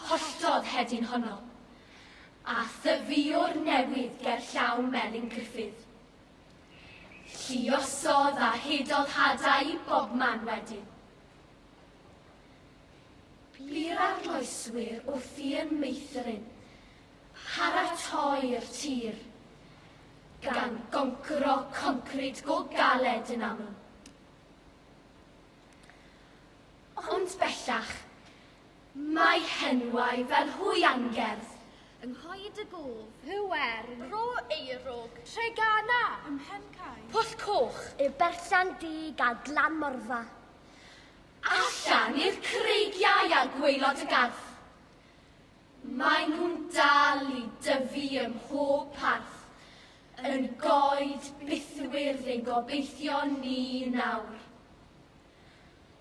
Holltodd hedyn honno, a thyfiwr newydd ger llaw Melin Gruffydd. Lluosodd a hudodd hadau i bobman wedyn. Bu'r arloeswyr wrth i yn meithrin paratoi'r tir, gan goncro concrid go galed yn aml. Ond bellach, Mae henwau fel hwy angerdd. Yng nghoed y gof. Pŵer. Rho eurwg. Treganna. Ym mhen cae. Pwll coch. Y berllan du gal glan morfa. Allan i'r creigiau a gwaelod y garth. Mae nhw'n dal i dyfu ym mhob parth. Yn goed bythwyrdd ein gobeithion ni nawr.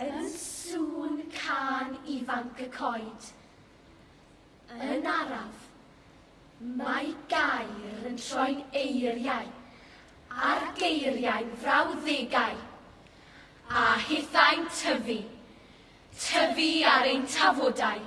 Yn sŵn cân ifanc y coed. Yn araf, mae gair yn troi'n eiriau, a'r geiriau'n frawddegau, a hithau'n tyfu, tyfu ar ein tafodau.